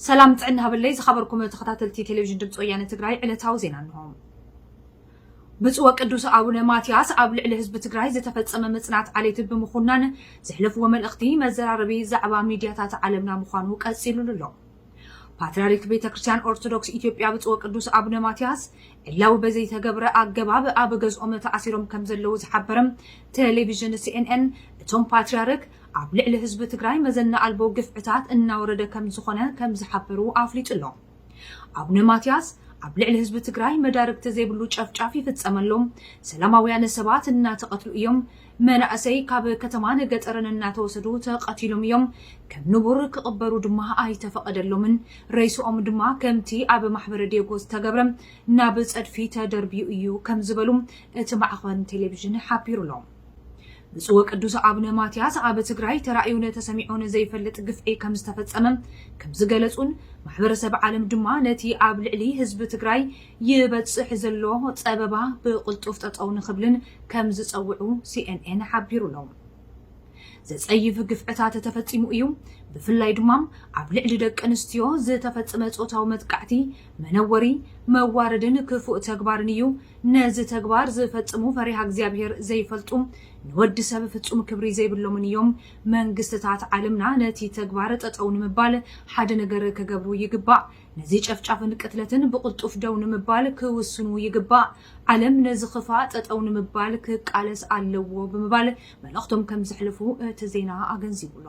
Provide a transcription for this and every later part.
ሰላም ጥዕና ሃበለይ ዝኸበርኩም ተኸታተልቲ ቴሌቪዥን ድምፂ ወያነ ትግራይ ዕለታዊ ዜና እንሆ። ብፁዕ ወቅዱስ ኣቡነ ማትያስ ኣብ ልዕሊ ህዝቢ ትግራይ ዝተፈፀመ ምፅናት ዓሌት ብምኹናን ዘሕለፍዎ መልእኽቲ መዘራረቢ ዛዕባ ሚድያታት ዓለምና ምዃኑ ቀፂሉሉ ኣሎ። ፓትርያርክ ቤተ ክርስቲያን ኦርቶዶክስ ኢትዮጵያ ብፁዕ ወቅዱስ ኣቡነ ማትያስ ዕላዊ በዘይተገብረ ኣገባብ ኣብ ገዝኦም ተኣሲሮም ከም ዘለዉ ዝሓበረ ቴሌቪዥን ሲኤንኤን እቶም ፓትርያርክ ኣብ ልዕሊ ህዝቢ ትግራይ መዘና ኣልቦ ግፍዕታት እናወረደ ከም ዝኾነ ከም ዝሓበሩ ኣፍሊጡ ኣሎ። ኣቡነ ማትያስ ኣብ ልዕሊ ህዝቢ ትግራይ መዳርግቲ ዘይብሉ ጨፍጫፍ ይፍፀም ኣሎ፣ ሰላማውያነ ሰባት እናተቐትሉ እዮም፣ መናእሰይ ካብ ከተማን ገጠርን እናተወሰዱ ተቐቲሎም እዮም፣ ከም ንቡር ክቕበሩ ድማ ኣይተፈቐደሎምን፣ ሬስኦም ድማ ከምቲ ኣብ ማሕበረ ዴጎ ዝተገብረ ናብ ፀድፊ ተደርብዩ እዩ ከም ዝበሉ እቲ ማዕኸን ቴሌቪዥን ሓቢሩ ኣሎ። ብፁዕ ወቅዱስ ኣቡነ ማትያስ ኣብ ትግራይ ተራእዩን ተሰሚዑን ዘይፈልጥ ግፍዒ ከምዝተፈፀመ ከምዝገለፁን ማሕበረሰብ ዓለም ድማ ነቲ ኣብ ልዕሊ ህዝቢ ትግራይ ይበፅሕ ዘሎ ፀበባ ብቕልጡፍ ጠጠው ንኽብልን ከምዝፀውዑ ሲኤንኤን ሓቢሩ ኣሎ። ዘፀይፍ ግፍዕታት ተፈፂሙ እዩ፣ ብፍላይ ድማ ኣብ ልዕሊ ደቂ ኣንስትዮ ዝተፈፅመ ፆታዊ መጥቃዕቲ መነወሪ፣ መዋረድን ክፉእ ተግባርን እዩ። ነዚ ተግባር ዝፈጽሙ ፈሪሃ እግዚኣብሄር ዘይፈልጡ፣ ንወዲ ሰብ ፍጹም ክብሪ ዘይብሎምን እዮም። መንግስትታት ዓለምና ነቲ ተግባር ጠጠው ንምባል ሓደ ነገር ክገብሩ ይግባእ። ነዚ ጨፍጫፍን ቅትለትን ብቕልጡፍ ደው ንምባል ክውስኑ ይግባእ። ዓለም ነዚ ክፋእ ጠጠው ንምባል ክቃለስ ኣለዎ ብምባል መልእኽቶም ከምዘሕልፉ እቲ ዜና ኣገንዚቡ'ሎ።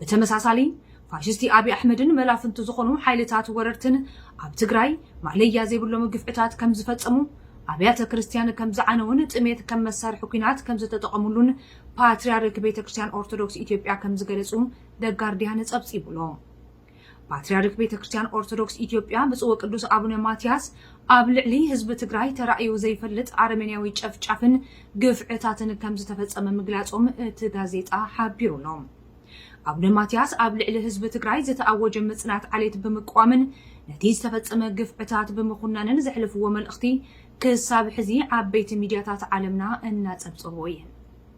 ብተመሳሳሊ ፋሽስቲ ኣብይ ኣሕመድን መላፍንቱ ዝኾኑ ሓይልታት ወረርትን ኣብ ትግራይ ማእለያ ዘይብሎም ግፍዕታት ከምዝፈፀሙ፣ ኣብያተ ክርስትያን ከምዝዓነዉን ጥሜት ከም መሳርሒ ኲናት ከምዝተጠቐምሉን ፓትሪያርክ ቤተ ክርስትያን ኦርቶዶክስ ኢትዮጵያ ከምዝገለፁ ደጋርድያን ፀብፂቡ'ሎ። ፓትርያርክ ቤተ ክርስቲያን ኦርቶዶክስ ኢትዮጵያ ብፁዕ ወቅዱስ ኣቡነ ማትያስ ኣብ ልዕሊ ህዝቢ ትግራይ ተራእዩ ዘይፈልጥ ኣረሜንያዊ ጨፍጫፍን ግፍዕታትን ከም ዝተፈጸመ ምግላጾም እቲ ጋዜጣ ሓቢሩ ኣሎ። ኣቡነ ማትያስ ኣብ ልዕሊ ህዝቢ ትግራይ ዝተኣወጀ ምጽናት ዓሌት ብምቅዋምን ነቲ ዝተፈጸመ ግፍዕታት ብምኹናንን ዘሕልፍዎ መልእኽቲ ክሳብ ሕዚ ዓበይቲ ሚድያታት ዓለምና እናጸብጸብኦ እየን።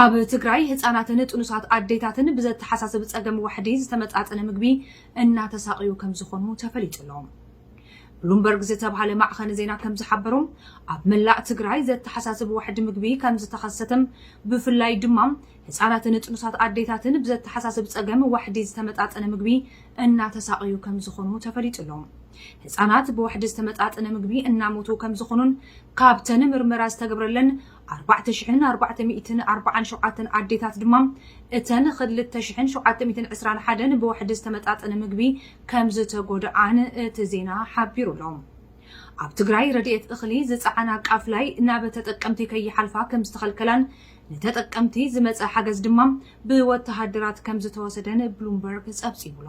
ኣብ ትግራይ ህፃናትን ጥኑሳት ኣዴታትን ብዘተሓሳስብ ፀገም ዋሕዲ ዝተመጣጠነ ምግቢ እናተሳቐዩ ከምዝኾኑ ተፈሊጡ ኣሎ። ብሉምበርግ ዝተብሃለ ማዕኸን ዜና ከምዝሓበሮ ኣብ መላእ ትግራይ ዘተሓሳስብ ዋሕዲ ምግቢ ከምዝተኸሰተም ብፍላይ ድማ ህፃናትን ጥኑሳት ኣዴታትን ብዘተሓሳስብ ፀገም ዋሕዲ ዝተመጣጠነ ምግቢ እናተሳቐዩ ከምዝኾኑ ተፈሊጡ ኣሎ። ህፃናት ብዋሕዲ ዝተመጣጠነ ምግቢ እናሞቱ ከምዝኾኑን ካብተን ምርመራ ዝተገብረለን ኣርባዕተ ሽሕን ኣርባዕተ ሚእትን ኣርባዓን ሸውዓተን ኣዴታት ድማ እተን ኽልተ ሽሕን ሸውዓተ ሚእትን ዕስራን ሓደን ብዋሕዲ ዝተመጣጠነ ምግቢ ከምዝተጎድኣን እቲ ዜና ሓቢሩ ኣሎ። ኣብ ትግራይ ረድኤት እኽሊ ዝፀዓና ቃፍላይ ናብ ተጠቀምቲ ከይሓልፋ ከምዝተኸልከላን ንተጠቀምቲ ዝመፀ ሓገዝ ድማ ብወተሃደራት ከምዝተወሰደን ብሉምበርግ ፀብፂቡ'ሎ።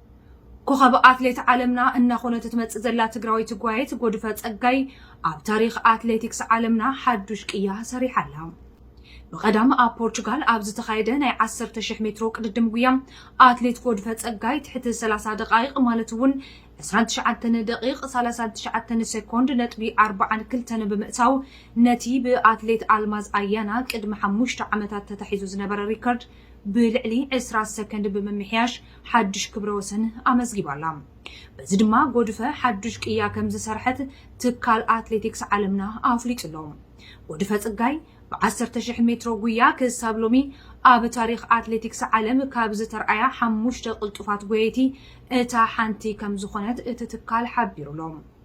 ኮኸብ ኣትሌት ዓለምና እናኾነት እትመፅእ ዘላ ትግራወይቲ ጓየት ጎድፈ ፀጋይ ኣብ ታሪክ ኣትሌቲክስ ዓለምና ሓዱሽ ቅያ ሰሪሓ ኣላ። ብቐዳም ኣብ ፖርቹጋል ኣብ ዝተኻየደ ናይ 10,000 ሜትሮ ቅድድም ጉያ ኣትሌት ጎድፈ ጸጋይ ትሕቲ 30 ደቓይቕ ማለት እውን 29 ደቂቕ 39 ሴኮንድ ነጥቢ 42 ብምእታው ነቲ ብኣትሌት ኣልማዝ ኣያና ቅድሚ ሓሙሽተ ዓመታት ተታሒዙ ዝነበረ ሪከርድ ብልዕሊ ዕስራ ሰከንድ ብምምሕያሽ ሓድሽ ክብረ ወሰን ኣመዝጊባ ኣላ። በዚ ድማ ጎድፈ ሓዱሽ ቅያ ከምዝሰርሐት ትካል ኣትሌቲክስ ዓለምና ኣፍሊጡ ኣሎ። ጎድፈ ፅጋይ ብዓሰርተ ሽሕ ሜትሮ ጉያ ክሳብ ሎሚ ኣብ ታሪኽ ኣትሌቲክስ ዓለም ካብ ዝተርኣያ ሓሙሽተ ቅልጡፋት ጎየይቲ እታ ሓንቲ ከምዝኾነት እቲ ትካል ሓቢሩ ኣሎ።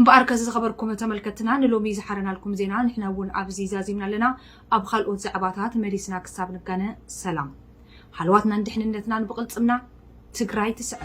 እምበኣርከስ ዝኸበርኩም ተመልከትትና ንሎሚ ዝሓረናልኩም ዜና ንሕና እውን ኣብዚ ዛዚምና ኣለና። ኣብ ኻልኦት ዛዕባታት መሊስና ክሳብ ንጋነ ሰላም ሃለዋትናን ድሕንነትናን ብቕልፅምና! ትግራይ ትስዕር!